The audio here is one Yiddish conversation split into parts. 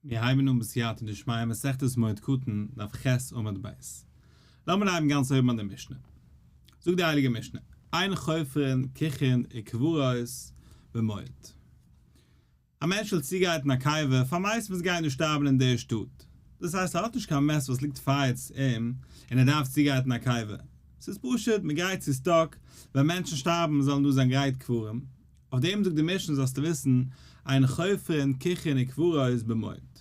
מיר הייבן אן בסייעתא דשמיא מסכת מועד קטן, דף ח' עמוד ב'. לאמיר הייבן גאנץ אויבן ביי די משנה. זאגט די הייליגע משנה, אין חופרין קוכין וקברות במועד. א מענטש וויל צוגייט אין א קבר פאר מייסט וואס גייען דא שטארבן אין דער שטאט. דאס הייסט ער האט נישט קיין מעסט וואס ליגט פארעץ אים און ער דארף צוגייט אין א קבר. ס'איז פשוט, מ'גרייט צו סטאק, ווען מענטשן שטארבן זאלן דא זיין גרייט קברים. אויף דעם זאגט די משנה זאלסטו וויסן, עיין חופרין קוכין וקבורהאיז במועד.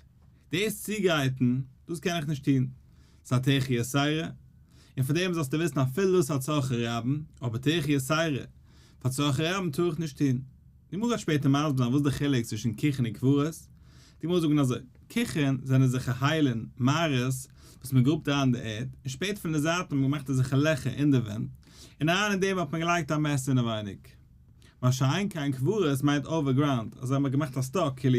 דאס צוגרייטן, דאס קען איך נישט טון, ס'איז א תחי' סיירא, און פון דעם זאלסטו וויסן אפילו דאס א צרכי רבים, אבער תחי' סיירא פאר צרכי רבים טאר איך נישט טון. די גמרא וועט שפעטער מסביר זיין וואס די חילוק צווישן קוכין און קבורה'ס. די גמרא זאגן אזוי, קוכין זענען אזעלכע היילן, מערות, וואס מען גראבט אריין די ערד, און שפעטער פון די זייטן האט מען געמאכט אזעלכע לעכער אין די ווענט, און אריין אין דעם האט מען געלייגט א מעסער אינעווייניג. מה שאין כן קברות מיינט אווער גראונד, אזוי האט מען געמאכט א סטאק כאילו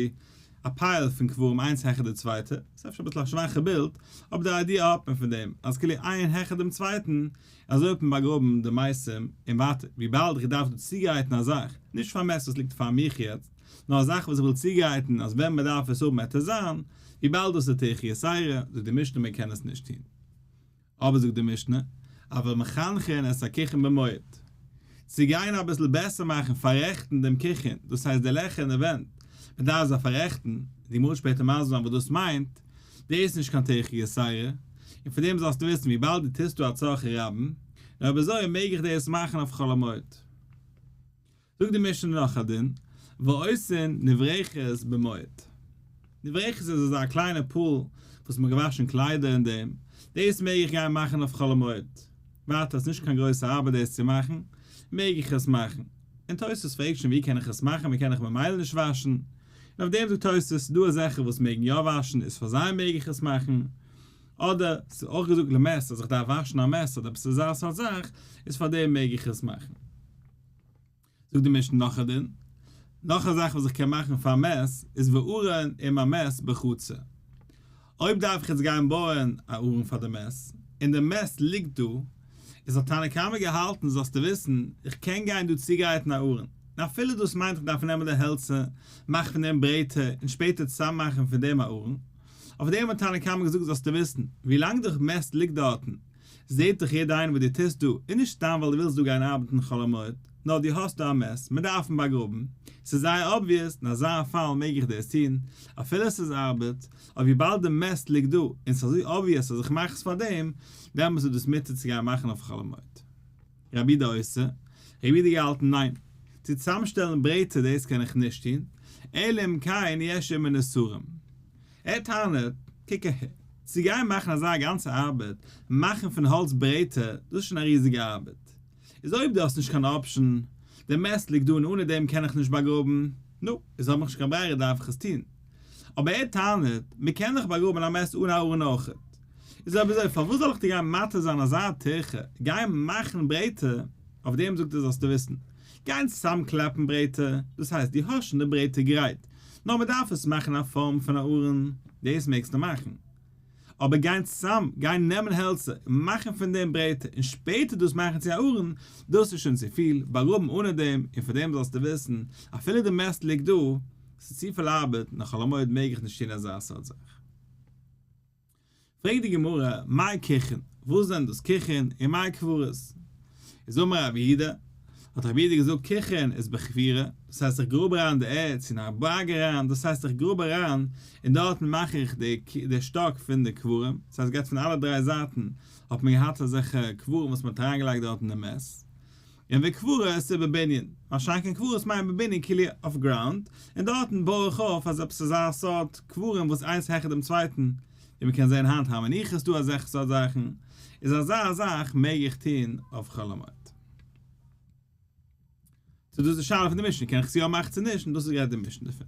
א פייל פון קברים איינס העכער די צווייטע, ס'איז אפשר אביסל א שוואכע בילד, אבער די איידיע האט מען פון דעם, אז כאילו איין העכער דעם צווייטן, אזוי האט מען באגראבן די מתים, און ווייטער, וויבאלד איך דארף דא צוגרייטן א זאך, נישט פאר מעש וואס ליגט פאר מיך יעצט, נאר א זאך וואס איך וויל צוגרייטן אז ווען מען דארף עס האבן העט עס זיין, וויבאלד דאס איז תחי' סיירא, זאגט די משנה מען קען עס נישט טון. אבער זאגט די משנה, אבל מחנכין את הקיחין במועד, צו גיין אביסל בעסער מאכן פאררעכטן דעם קיחין, דאס הייסט די לעכער אין די ווענט, מען דארף זיי פאררעכטן, די גמרא וועט שפעטער מסביר זיין וואס דאס מיינט, דאס איז נישט קיין תוכחה גסרה, און פון דעם זאלסטו וויסן וויבאלד דו טוסט דא א צרכי רבים, נו אויב אזוי מעג איך דאס מאכן אויף חול המועד. זאגט די משנה נאך א דין, ועושין נברחת במועד. נברחת איז אזא קליינע פאל וואס מ'האט געוואשן קליידער אין דעם, דאס מעג איך גיין מאכן אויף חול המועד, ווייטער עס איז נישט קיין גרויסע ארבעט דאס צו מאכן, מעג איך עס מאכן? און תוס' פרעגט שוין ווי קען איך עס מאכן, מ'קען דאך ממילא נישט וואשן, און אויף דעם זאגט תוס' דא אזעלכע וואס מעגן יא וואשן איז פאר זיי מעג איך עס מאכן, אדער ס'איז אויך געזאגט למעשה אז איך דארף וואשן א מעסער אדער עפעס אזא סארט זאך, איז פאר דעם מעג איך עס מאכן. זאגט די משנה נאך א דין, נאך א זאך וואס איך קען מאכן פאר מעש איז וארון עם המעש בחצר, אויב דארף איך יעצט גיין בויען א ארון פאר די מעש, און די מעש ליגט דא, איז האט תנא קמא געהאלטן זאלסטו וויסן, איך קען גיין דא צוגרייטן א ארון, און אפילו דאס מיינט איך דארף נעמען די העלצער, מאכן פון דעם ברעטער, און שפעטער צוזאם מאכן פון דעם א ארון, אויף דעם האט תנא קמא געזאגט זאלסטו וויסן, ווי לאנג די מעש ליגט דארטן, זעט דיך יעדער איינער וואס דו טוסט דא איז נישט סתם ווייל דו ווילסט דא גיין ארבעטן חול המועד, נאר דו האסט דא א מעש, מען דארף אים באגראבן, ס'איז זייער אבוויעס, אין אזא פאל מעג איך דאס טון, אפילו ס'איז ארבעט, אבער וויבאלד די מעש ליגט דא, און ס'איז אזוי אבוויעס אז איך מאך עס פאר דעם, דעמאלטס איז דאס מותר צו גיין מאכן אויף חול המועד. רבי די עושה, רבי די געהאלטן ניין, צו צוזאמשטעלן ברעטער דאס קען איך נישט טון, אלא אם כן יש אים אין איסורים. ער טענה'ט, קוק אהער, צו גיין מאכן אזא גאנצע ארבעט, מאכן פון האלץ ברעטער, דאס איז שוין א ריזיגע ארבעט. איז אויב דו האסט נישט קיין אפשן, די מעסט ליגט דא און אנע דעם קען איך נישט באגראבן, נו, איז האב איך נישט קיין ברירה דארף איך עס טון. אבער ער טענה'ט, מען קען דאך באגראבן א מעסט אן א ארון אויכעט. איז אויב אזוי, פארוואס זאל איך דיר גיין מטריד זיין אזא טירחה, גיי מאכן ברעטער, אויף דעם זאגט ער זאלסטו וויסן, גייען צוזאם קלעפן ברעטער, דאס הייסט דו האסט שוין די ברעטער גרייט, נאר מען דארף עס מאכן א פארם פון א ארון, דאס מעגסטו מאכן. אבער גיין צוזאם, גיין נעמען העלצער און מאכן פון דעם ברעטער און שפעטער דאס מאכן צו א ארון, דאס איז שוין צופיל, באגראבן אנע דעם, און פאר דעם זאלסטו וויסן, אפילו די מעסט ליגט דא, ס'איז צופיל ארבעט, און א חול המועד מעג איך נישט טון אזא סארט זאך. פרעגט די גמרא, מאי קכין, וואס זענען דאס קכין, און מאי קברות? איז אמר רבי יהודה, האט רבי יהודה געזאגט קכין איז בכפירה, דאס הייסט איך גראב אריין די ערד צו אין א בארג אריין, דאס הייסט איך גראב אריין און דארטן מאך איך די שטאק פון די קברים, דאס הייסט געהאט פון אלע דריי זייטן האט מען געהאט אזעלכע קברים וואס מען האט אריינגעלייגט דארטן די מעש, און ווי קבורה עס איז בבנין, ווארשיינליך קען קברות מיינען בבנין כאילו אויף גראונד, און דארטן בוי איך אויף אז עפעס אזא סארט קברים וואס איינס העכער דעם צווייטן, ווי מען קען זען היינט הר מנוחה איז דא אזעלכע סארט זאכן, איז אזא זאך מעג איך טון אויף חול המועד? צו דאס איז די שאלה פון די משנה, קען איך עס יא מאכן צו נישט, און דאס איז גערעדט די משנה דערפון.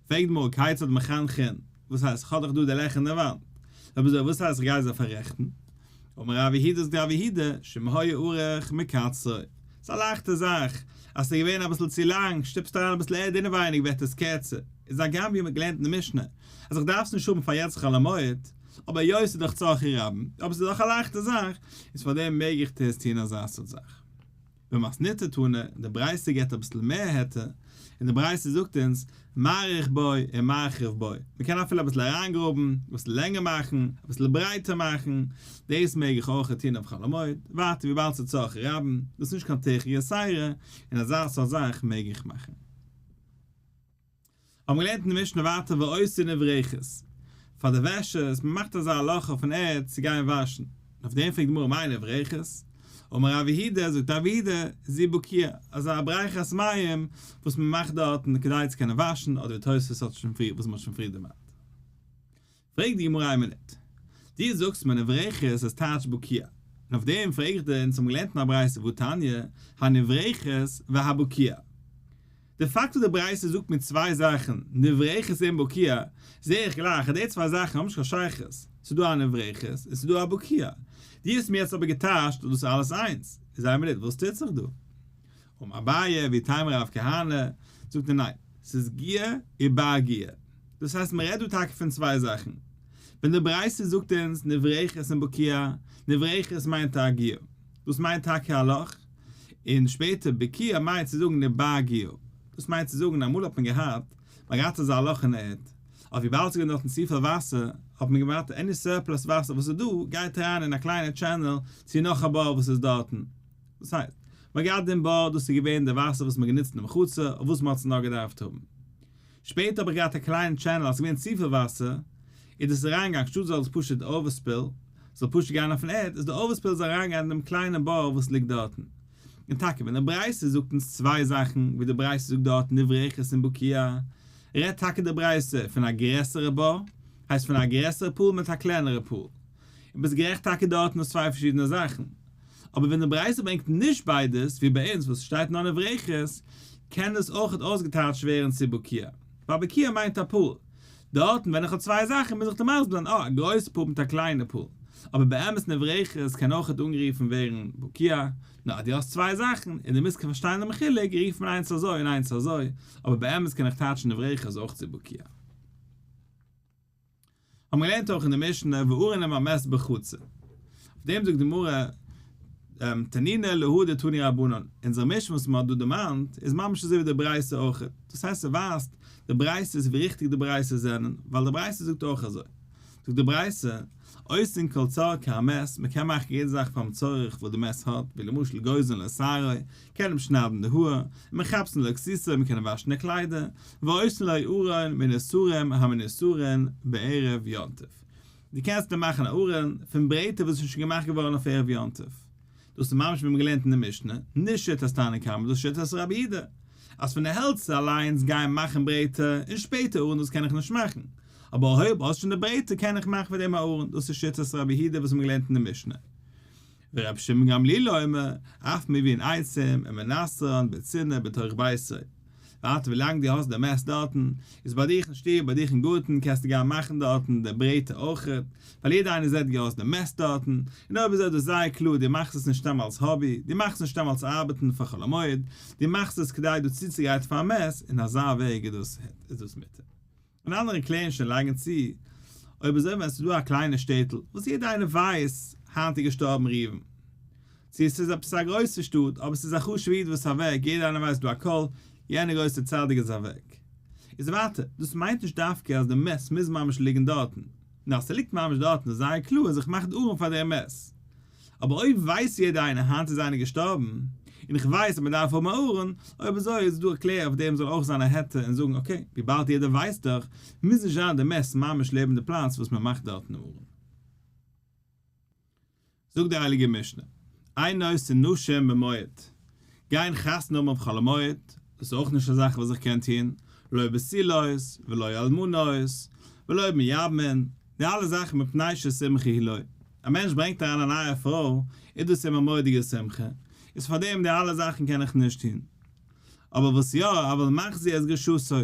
פרעגט מוהר כיצד מחנכין, וואס הייסט, כ'האב דאך דא די לעכער אין די וואנט. רבי זאב, וואס הייסט כ'גיי זיי פאררעכטן? אמר רב יהודה זאגט רבי יהודה, שאם היה ארוך מקצרו. ס'איז א לייכטע זאך, אז ס'איז געווען אביסל צו לאנג, שטופסט אריין אביסל ערד אינעווייניג ווערט עס קערצער. איז הגם ווי מ'האט געלערנט אין די משנה, אז איך דארף עס נישט האבן פאר יעצט חול המועד, אבער היות ס'איז דאך צרכי רבים, אבער ס'איז דאך א לייכטע זאך, איז פארדעם מעג איך טוהן אזא סארט זאך. במתניתא תנא, די ברייתא געבט אביסל מער היתר, און די ברייתא זאגט אונז, מאריך בו און מרחיב בו, מען קען אפילו אביסל אריינגראבן, אביסל לענגער מאכן, אביסל ברייטער מאכן, דאס מעג איך אויך טון אויף חול המועד, ווייטער וויבאלד ס'איז צרכי רבים, דאס איז נישט קיין תוכי יסיירא, און אזא סארט זאך מעג איך מאכן. האבן געלערנט אין די משנה ווייטער ועושים אברכות פאר די וועשערס, מען מאכט אזא הלכה פון ערד צו גיין וואשן, און אויף דעם פרעגט די גמרא מאין אברכות? אמר רב יהודה, זאגט רב יהודה, זי בוקיא, אזא אברכת מים וואס מען מאכט דארטן כדי צו קענען וואשן, אדער ווי תוספות האט שוין פריער, וואס מען האט שוין פריער דערמאנט. פרעגט די גמרא א מינוט, דו זאגסט מען נברכת איז טייטש בוקיה, און אויף דעם פרעג איך דיר אונז האבן געלערנט אין א ברייתא וואו תניא, הנברכת והבוקיה. די פאקט אז די ברייתא זאגט מיר צוויי זאכן, נברכת און בוקיה, זע איך גלייך אז די צוויי זאכן האבן נישט קיין שייכות, ס'איז דא א נברכת און ס'איז דא א בוקיה. דו האסט מיר יעצט אבער געטייטשט אז דאס איז אלעס איינס. איז א מינוט, וואס טוט זיך דא? אום אביי ווי טעמער אויף כהנא, זאגט ער ניין, ס'איז גיע איר בר גיע. דאס הייסט מ'רעדט דא טאקע פון צוויי זאכן. ווען די ברייתא זאגט אונז נברכת און בוקיה, נברכת מיינט א גיע, דאס מיינט טאקע א לאך, און שפעטער בוקיה מיינט צו זאגן איר בר גיע. דאס מיינט צו זאגן אמאל האט מען געהאט, מ'האט געהאט אזא לאך אין ערד, אויף וויבאלד ס'איז געווען דארטן צופיל וואסער, האט מען געווארט עני סורפלאס וואסער וואס איז דא גייט אריין אין א קליינע טשענעל צו נאך א בור וואס איז דארטן, דאס הייסט, מ'האט געהאט דעם בור, דאס איז געווען די וואסער וואס מ'האט גענוצט אין מחצה, אויף וואס מ'האט עס נאר געדארפט האבן. שפעטער האב איך געהאט א קליינע טשענעל, אז ס'געווען צופיל וואסער, איז דאס אריינגעגאנגען, שטאט זאל עס פשוט, די אווערספעל, זאל פשוט גיין אויפן ערד, איז די אווערספעל איז אריינגעגאנגען אין דעם קליינעם בור וואס ליגט דארטן. און טאקע ווען די ברייתא זאגט אונז צוויי זאכן, ווי די ברייתא זאגט דארט נברא אחד אין בקעה, רעדט טאקע די ברייתא פון א גרעסערע בור, הייסט פון א גרעסערע פול מיט א קלענערע פול. און ביסט גערעכט טאקע דארטן איז צוויי פארשידענע זאכן, אבער ווען די ברייתא ברענגט נישט ביידעס ווי ביי אונז וואס שטייט נאר נברכת, קען דאס אויכעט אויסגעטייטשט ווערן צו בוקיא, ווייל בוקיא מיינט א פאל, דארטן ווען איך האב צוויי זאכן מוז איך דיר מסבר'ן אה, א גרויסע פאל מיט א קליינע פאל, אבער באמת נברכת קען אויכעט אנגערופן ווערן בוקיא, נו אז דו האסט צוויי זאכן און דו מוזט פארשטיין דעם חילוק רופט מען איינס אזוי און איינס אזוי, אבער באמת קען איך טייטשן נברכת אויך צו בוקיא. האבן געלערנט אויך אין די משנה ואורנים המס בחצר. אויף דעם זאגט די גמרא, תנינא להא דתני רבנן, אונזער משנה וואס מ'האט דא דערמאנט איז ממש אזוי ווי די ברייתא אויך, דאס הייסט ס'ווייזט די ברייתא איז ווי ריכטיג די ברייתא זענען, ווייל די ברייתא זאגט אויך אזוי. זאגט די ברייתא, עושין כל צואה כהמס, מ'קען מאכן יעדע זאך פאר'ן צורך וואס די מס האט, ווי למשל גוזלין לשערה, מ'קען אים שניידן די האר, און מחפשן לא כסיסא, מ'קען אים וואשן די קליידער, ועושה לו ארון מן הסורין המנוסרין בערב יום טוב. דו קענסט אים מאכן א ארון פון ברעטער וואס איז שוין געמאכט געווארן אויף ערב יום טוב. דאס איז ממש ווי מ'האט געלערנט אין די משנה, נישט שיטת תנא קמא, דאס איז שיטת רבי אידא, אז פון די העלצער אליינס גיין מאכן ברעטער, און שפעטער ארון דאס קען איך נישט מאכן, אבער אויב האסט שוין די ברעטער קען איך מאכן פון דעם א ארון, דאס איז שיטת רבי אידא וואס האבן געלערנט אין די משנה. ורבי שמעון גמליאל אומר, אף מבין עצום, און מנסרן בצנעה בתוך ביתו. ווייטער ווי לאנג דו האסט די מעסט דארטן, איז ביי דיך אין שטוב, ביי דיך אין גארטן, קענסטו גיין מאכן דארטן די ברעטע אויך, ווייל יעדער איינער זעט ווי האסט די מעסט דארטן, און אויב איז עפעס זייער קלאר, דו מאכסט עס נישט סתם אלס האבי, דו מאכסט נישט סתם אלס ארבעטן פאר חול המועד, דו מאכסט עס כדי דא צוצוגרייטן פאר א מעסט, אין אזא וועג איז דאס מותר. און אנדערע קלערן שוין לאנגע צו אויב אזוי ווען עס איז דא א קליינע שטעטל וואס יעדער איינער ווייסט היינט איז געשטארבן ראובן צו עס איז עפעס א גרויסע שטאט אבער עס איז א חשובע איד וואס איז אוועק יעדער איינער ווייסט דא א קול יענער גרויסע צדיק איז אוועק איז ווייטער דאס מיינט נישט דווקא אז די מת מוז ממש ליגן דארטן נאר אז ער ליגט ממש דארטן איז זייער קלאר אז איך מאך די ארון פאר דער מת אבער אויב ווייסט יעדער איינער היינט איז איינער געשטארבן, און איך ווייס אז מען דארף האבן א ארון, אויב אזוי איז דא א קלער אויף דעם זאל אויך זיין א היתר און זאגן אקעי, וויבאלד יעדער ווייסט דאך, מוז נישט זיין די מעש ממש לעבן די פלאץ וואס מען מאכט דארטן א ארון. זאגט די הייליגע משנה, איין נושא נשים במועד, גיין חתונה האבן אויף חול המועד איז אויך נישט א זאך וואס איך קען טון, לא בסילות ולא אלמנות ולא מיבמין, די אלע זאכן מפני ששמחה היא לו, א מענטש ברענגט אריין א נייע פרוי איז דאס אים א מורא'דיגע שמחה, איז פאר דעם די אלע זאכן קען איך נישט טון. אבער וואס יא, אבל מחזיר את גרשתו,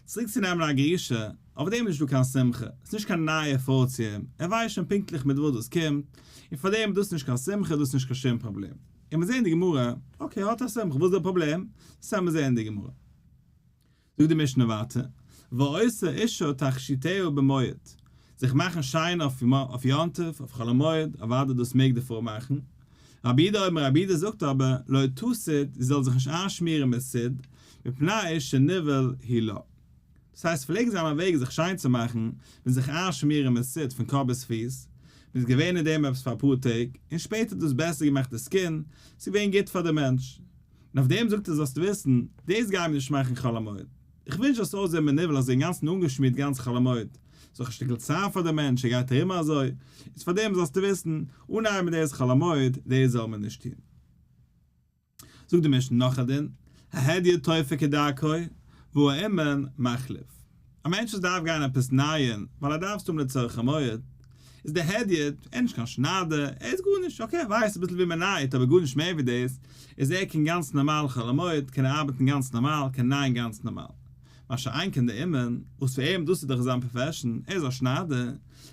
צוריק צו נעמען א גרושה, אויף דעם איז נישטא קיין שמחה, עס איז נישט קיין נייע פרוי צו אים, ער ווייסט שוין פונקטליך מיט וואס דאס קומט, און פאר דעם איז דאס נישט קיין שמחה, דאס איז נישט קיין שום פראבלעם. און מיר זעהן די גמרא, אקעי האט א סמכא, וואס איז דער פראבלעם? סתם מיר זעהן די גמרא. זאגט די משנה ווייטער, ועושה אישה תכשיטהו במועד, זיך מאכן שיין אויף יום טוב, אויף חול המועד, אוודאי דאס מעג די פרוי מאכן, רבי אידא אמר, רבי אידא זאגט אבער, לא תסית, זי זאל זיך נישט איינשמירן מיט סיד, מפני שנבהל היא לה. דאס הייסט פלעגן זיי האבן א וועג זיך שיין צו מאכן און זיך איינשמירן מיט ס'ט פון קאפ ביז פיס, מען איז געווען אין דעם עפעס פאר אפאר טעג, און שפעטער האט דאס בעסער געמאכט די סקין, ס'איז געווען גוט פאר די מענטש. און אויף דעם זאגט ער זאלסט וויסן, דאס גייען מיר נישט מאכן חול המועד. איך ווינטש זאלסט אויסזען מנוול אזוי אינגאנצן אנגעשמירט גאנץ חול המועד, ס'איז דאך א שטיקל צער פאר די מענטש ער גייט ארום אזוי, איז פאר דעם זאלסטו וויסן, אנהייבן דאס חול המועד, דאס זאל מען נישט טון. זאגט די משנה נאך א דין, ההדיא טויפה כדרכו והוא אומן מחליף, א מענטש וואס דארף גיין עפעס נייען ווייל ער דארף עס האבן לצורך המועד, איז די הדיא, ער איז נישט קיין שניידער, ער איז גארנישט, אקעי ער ווייסט אביסל ווי מען נייעט אבער גארנישט מער ווי דאס, איז ער קען גאנץ נארמאל חול המועד קען ער ארבעטן גאנץ נארמאל, קען נייען גאנץ נארמאל. מה שאין כן די אומן, וואס פאר אים דאס איז דאך זיין פראפעשן, ער איז א שניידער,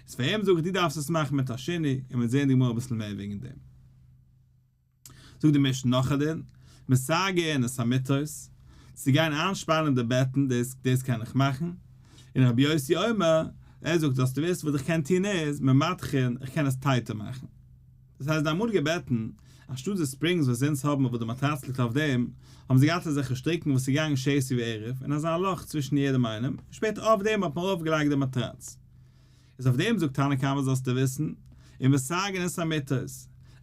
איז פאר אים זאג איך דו דארפסט עס מאכן מיט א שני, און מ'וועט זען אין די גמרא אביסל מער וועגן דעם. זאגט די משנה נאך א דין, מסגרין את המיטות, צו גיין איינשפאנען די בעטן, דאס דאס קען איך מאכן, און רבי יוסי אומר, ער זאגט אז דו ווילסט וואס איך קען טון איז, ממתחין, איך קען עס טייטער מאכן. דאס הייסט די אמאליגע בעטן, אנשטאט די ספרינגס וואס אונז האבן אוואו די מאטראץ ליגט אויף דעם, האבן זיי געהאט אזעלכע שטריקן וואס איז געגאנגען שעיסי וערב, און אזא לאך צווישן יעדעם איינעם, און שפעטער אויף דעם האט מען ארויפגעלייגט די מאטראץ. איז אויף דעם זאגט תנא קמא זאלסטו וויסן, און מסגן את המיתות,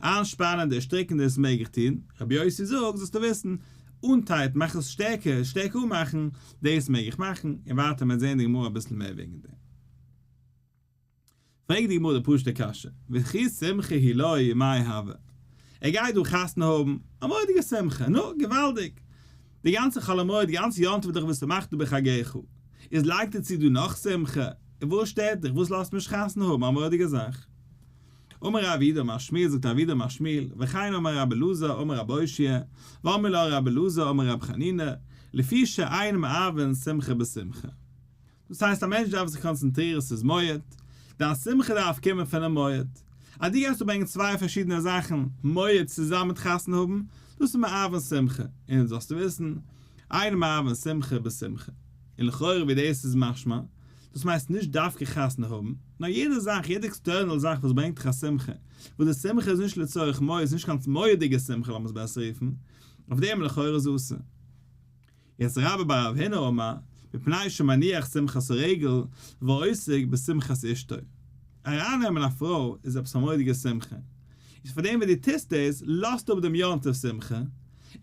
איינשפאנען די ערשטריקענדע איז מעגליך טון, רבי יוסי זאגט זאלסטו וויסן, אנטייט, מאך עס שטערקער, שטערקער אנמאכן, דאס מעג איך מאכן, און ווייטער מען זען די גמרא אביסל מער וועגן דעם. פרעגט די גמרא די פשוט'ע קשיא, וכי שמחה היא לוי מאי הוה? ער גייט דא חתונה האבן, א מורא'דיגע שמחה, נו, געוואלדיג! די גאנצע חול המועד, די גאנצע יום טוב איז דאך ושמחת בחגיך, איז לייגט ער צו דא נאך שמחה, און וואס שטערט דיך, וואס לאזט מען נישט חתונה האבן א מורא'דיגע זאך. אמר ר' אביד אמר שמואל זאגט ר' אביד אמר שמואל, וכן אמר רבי אלעזר אמר רבי הושע, ואמר לו רבי אלעזר אמר רבי חנינא, לפי שעיין מערבין שמחה בשמחה. דאס הייסט א מענטש דארף זיך קאנצענטרירן ס'איז מועד, דיין שמחה דארף קומען פונעם מועד. אז דו גייסט אנברענגען צוויי פארשידענע זאכן, מועד צוזאמען מיט חתונה האבן, דאס איז מאהבן שמחה, און יעצט זאלסטו וויסן, איינער מאהבן שמחה בשמחה. און לכאורה ווי דאס איז משמע, דאס מיינסט נישט דווקא חתונה האבן, נאר יעדע זאך, יעדע עקסטערנעל זאך וואס ברענגט דיך א שמחה, וואס די שמחה איז נישט לצורך מועד, ס'איז נישט קיין מועד'דיגע שמחה לאמיר עס בעסער רופן, אויף דעם לכאורה זאלסטו. יצ רבה ביי רב הונא אמר, מפני שמניח שמחת הרגל ועוסק בשמחת אשתו. ארייננעמען א פרוי איז עפעס א מורא'דיגע שמחה, איז פאר דעם וואס דו טוסט דאס, לאזט אפ דעם יום טוב שמחה,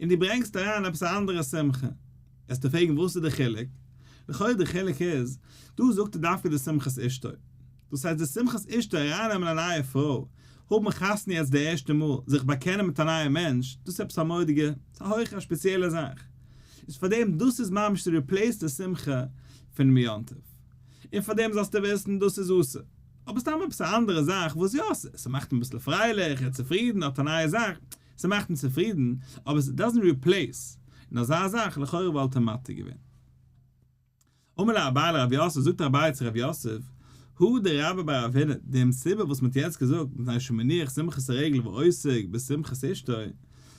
און דו ברענגסט אריין עפעס א אנדערע שמחה. וועסטו פרעגן וואס איז די חילוק? לכאורה די חילוק איז, דא זאגט ער דווקא די שמחת אשתו. דאס הייסט די שמחת אשתו ארייננעמען א נייע פרוי, האבן חתונה יעצט די ערשטע מאל, זיך באקענען מיט א נייע מענטש, דאס איז עפעס א מורא'דיגע, ס'איז א הויכע א ספעציעלע זאך. איז פארדעם דאס איז ממש צו ריפלעיס די שמחה פונעם יום טוב. און פארדעם זאלסטו וויסן דאס איז אסור. אבער סתם עפעס א אנדערע זאך וואס יא, ס'מאכט אים אביסל פרייליך, ער איז צופרידן, ער האט א נייע זאך, ס'מאכט אים צופרידן, אבער ס'דאזענט ריפלעיס, און אזא זאך לכאורה וואלט אים מתיר געווען. אמר לה אביי לרב יוסף, זאגט אביי צו רב יוסף, הוא דרבה ברב הונא, די מסיבה וואס מ'האט יעצט געזאגט, מפני שהוא מניח שמחת הרגל ועוסק בשמחת אשתו,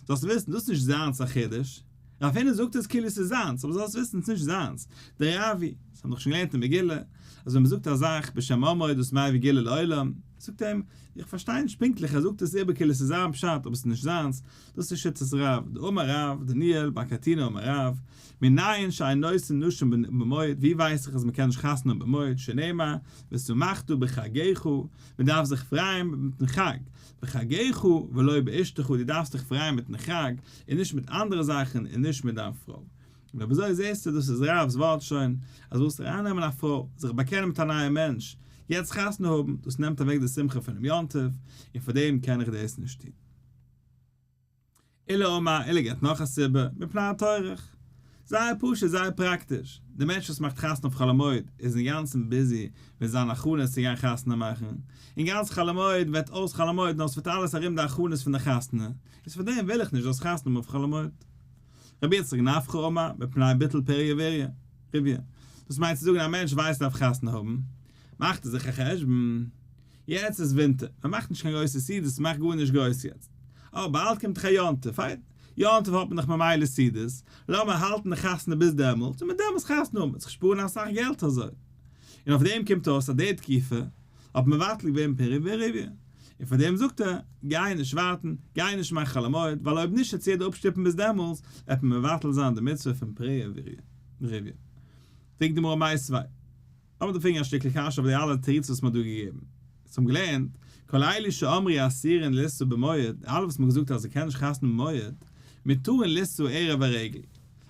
זאלסט וויסן, דאס איז נישט זיינס א חידוש, רב הונא זאגט עס כאילו עס איז זיינס, אבער זאלסט וויסן עס איז נישט זיינס, די רבי, עס האבן דאך שוין געלערנט אין מגילה, אז ווען מ'זאגט א זאך בשם אומרו איז דאס מהווה גילוי לעולם, זאגט ער אים, איך פארשטיי נישט פונקטליך, ער זאגט עס איבער כאילו עס איז זיין פשט, אבער עס איז נישט זיינס, דאס איז שיטת רב ד אמר רב דניאל בר קטינא אמר רב מנין שאין נושאין נשים במועד ווי ווייס איך אז מ'קען נישט חתונה במועד שנאמר ושמחתו בחגיכו מ'דארף זיך פרייען מיטן חג בחגיכו ולא באשתכו די דארפסט דיך פרייען מיטן חג און נישט מיט אנדערע זאכן און נישט מיט דיין פרוי נו וויאזוי זעסטו דאס איז רב ד'ס ווארט שוין אז ווילסט ארייננעמען א פרוי זיך באקענען מיט א נייע מענטש יעצט חתונה האבן דאס נעמט אוועק די שמחה פונעם יום טוב און פארדעם קען איך דאס נישט טון. אלא מאי, אלא געבט נאך א סיבה, מפני הטורח. זייער פשוט, זייער פראקטיש. דער מענטש וואס מאכט חתונה אויף חול המועד איז אינגאנצן ביזי מיט זיין הכנות צו גיין חתונה מאכן, און גאנץ חול המועד וועט אויס חול המועד נאר עס וועט אלעס ארום די הכנות פון די חתונה, איז פאר דעם וויל איך נישט דאס חתונה מאכן אויף חול המועד. רבי יצחק נפקא או מאי, מפני ביטול פריה ורביה. דאס מיינט צו זאגן א מענטש ווייסט ער דארף חתונה האבן, מאכט ער זיך א חשבון, יעצט איז ווינטער, מען מאכט נישט קיין גרויסע סעודות, מען מאכט גארנישט גרויס יעצט. אבער באלד קומט דאך א יום טוב, פיין, יום טוב האט מען דאך ממילא סעודות, לאמיר האלטן די חתונה ביז דעמאלט, און מיט דעם איז חתונה האבן, מען וועט זיך שפארן אסאך געלט אזוי. און אויף דעם קומט אויס אז די תקופה האט מבטל געווען פרי ורביה. און פאר דעם זאגט ער, גיי נישט ווארטן, גיי נישט מאכן חול המועד, ווייל אויב נישט וועט סעודה אפשטופן ביז דעמאלס, וועט מען מבטל זיין די מצוה פון פרי ורביה. פרעגט די גמרא מאי סבי'. לאמיר דערפרעגן א שטיקל קשיא אויף די אלע תירוצים וואס מען האט דא געגעבן. אונז האבן געלערנט, כל אלה שאמרי אסירין לישא במועד, די אלע וואס מען האט געזאגט אז מען קען נישט חתונה במועד, מותרין לישא ערב הרגל.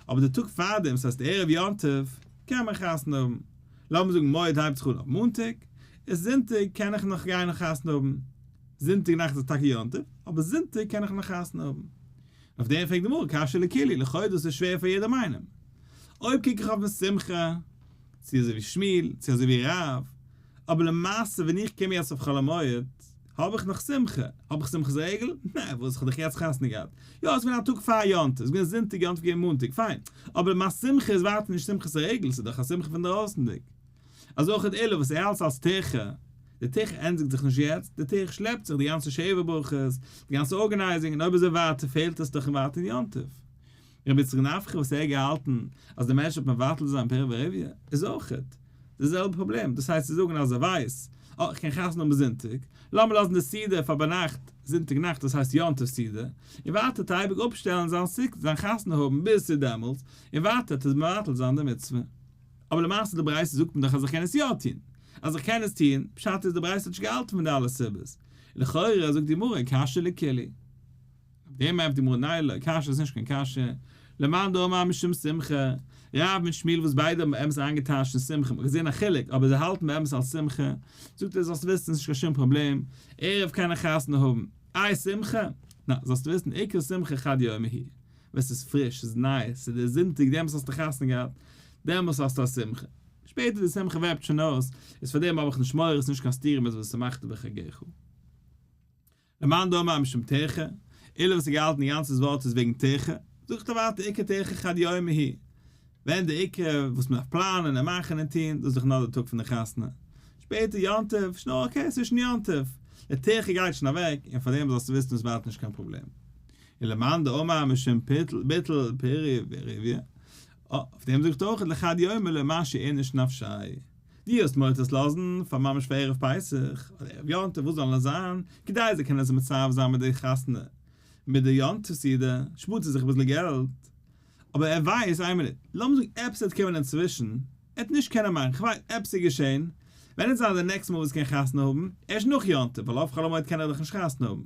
אבער די טאג פארדעם, ס'הייסט ערב יום טוב, קען מען חתונה האבן. לאמיר זאגן מועד הייבט זיך אן אויף מאנטאג, איז זונטאג קען איך נאך גיין און חתונה האבן. זונטאג נאכט איז טאקע יום טוב, אבער זונטאג קען איך נאך חתונה האבן. אויף דעם פרעגט די גמרא קשיא לכולי, לכאורה דאס איז שווער פאר יעדעם איינעם. אויב קוק איך אויפן שמחה, צו אזוי ווי שמואל, צו אזוי ווי רב, אבער למעשה ווען איך קום יעצט אויף חול המועד, האב איך נאך שמחה? האב איך שמחת רגל? נע, וואס איך האב דאך יעצט חתונה געהאט. יא, עס איז געווען א טאג פאר יום טוב, עס איז געווען זונטאג, יום טוב איז געווען מאנטאג, פיין, אבער מיין שמחה איז ווייטער נישט שמחת רגל, עס איז דאך א שמחה פונדרויסנדיג. אזוי אויך די עולה וואס איך האלט אלס ת ח, די ת ח ענדיגט זיך נישט יעצט, די ת ח שלעפט זיך, די גאנצע שבע ברכות, די גאנצע ארגענייזינג, און אויב איז ער ווייטער פעלט עס דאך אין ווייטער אין יום טוב. רבי יצחק נפחא וואס ער האט געהאלטן אז די מענטש האט מבטל צו זיין פר' ורביע, איז אויך די זעלבע פראבלעם, דאס הייסט צו זאגן אז ער ווייסט, אה, איך קען חתונה האבן זונטאג, לאמיר לאזן די סידור פאר ביינאכט, זונטאג נאכט דאס הייסט יום טוב סידור, און ווייטער טייערביג אפשטעלן זיין סוכ זיין חתונה האבן ביז צו דעמאלטס, און ווייטער האט עס מבטל זיין די מצוה. אבער למעשה אין די ברייתא זאגט מען דאך אז איך קען עס יא טון. אז איך קען עס טון, פשט איז די ברייתא האט נישט געהאלטן פון די אלע סיבות. לכאורה זאגט די גמרא קשיא לקילי. אויף דעם הייבט די גמרא ניי לא קשיא איז נישט קיין קשיא. למאן דאמר משום שמחה, רב מיט שמואל וואס ביידע האבן באמת איינגעטייטשט אין שמחה, מ'האט געזען א חילוק, אבער זיי האלטן באמת אלס שמחה, זאגט ער זאלסט וויסן ס'איז נישט קיין שום פראבלעם, ערב קען איך חתונה האבן. איי שמחה? נא, זאלסט וויסן עיקר שמחה חד יומי היא. ווען ס'איז פריש, ס'איז ניי, ס'איז דער זונטאג, דעמאלס האסטו חתונה געהאט, דעמאלס האסטו א שמחה. שפעטער די שמחה וועפט שוין אויס, איז פאר דעם האב איך נישט מורא, עס איז נישט קיין סתירה מיט ושמחת בחגיך. למאן דאמר משום תיכה, אילו וואס האט געהאלטן די גאנצע ווארט איז וועגן תיכה, זאגט ער ווייטער עיקר תיכה חד יומי היא, ווען די עיקר וואס מען דארף פלאנען און מאכן און טון, דאס איז דאך נאר די טאג פון די חתונה. שפעטער יום טוב, איז שוין אויך אקעי צווישן יום טוב, די תיכה גייט שוין אוועק, און פאר דעם זאלסטו וויסן עס ווארט נישט קיין פראבלעם. אלא מאן דאמר משום ביטול פרי ורביה, אויף דעם זאגט אויך לחד יומא לא מה שאין איש נפשי, דו האסט מותר עס לאזן פאר ממש פאר ערב פסח אדער ערב יום טוב וואס זאל נאר זיין, כדי זיי קענען זיך מצרף זיין מיט די חתונה מיט די יום טוב סעודה, שפארט ער זיך אביסל געלט, אבער ער ווייסט, איין מינוט, לאמיר זאגן עפעס וועט קומען אינצווישן, ער וועט נישט קענען מאכן, כ'ווייס, עפעס איז געשען, ווען עט זיין די נעקסטע מאל וואס ער קען חתונה האבן? ערשט נאך יום טוב, ווייל אויף חול המועד קען ער דאך נישט חתונה האבן,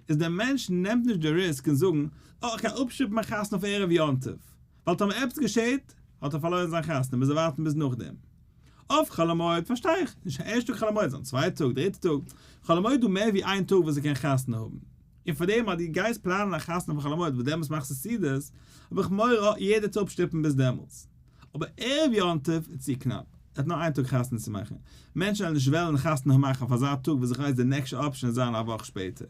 איז דער מענטש נעמט נישט די ריסק און זאגן, אה, איך גיי אפשיפן מיין חתונה אויף ערב יום טוב, ווייל טאמער עפעס געשעט, האט ער פארלוירן זיין חתונה, מוז ער ווארטן ביז נאכדעם. אויף חול המועד פארשטיי איך, נישט קיין ערשטע טאג חול המועד, זיין צווייטע טאג, דריטע טאג, חול המועד איז דא מער ווי איין טאג וואס ער קען חתונה האבן, און פארדעם אז דו גייסט פלאנען א חתונה פאר חול המועד וואס דעמאלטס מאכסטו סעודות, האב איך מורא, אה, יעדער צו אפשטופן ביז דעמאלטס. אבער ערב יום טוב איז צו קנאפ, ער האט נאר איין טאג חתונה צו מאכן, מענטשן וועלן נישט וועלן חתונה מאכן אויף אזא טאג וואס איך ווייס די נעקשע אפשען וועט זיין א וואך שפעטער,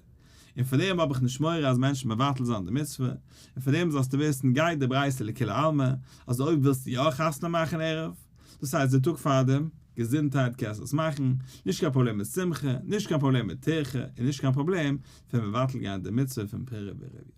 און פאר דעם האב איך נישט מורא אז מענטשן מבטל זיין די מצוה, און פאר דעם זאלסטו וויסן גייט די ברייתא לכולי עלמא אז אויב ווילסטו יא חתונה מאכן ערב, דאס הייסט די טאג פארדעם, געזונטהייט קענסט עס מאכן, נישט קיין פראבלעם מיט שמחה, נישט קיין פראבלעם מיט טירחה, און נישט קיין פראבלעם פון מבטל גיין די מצוה פון פרה ורביה.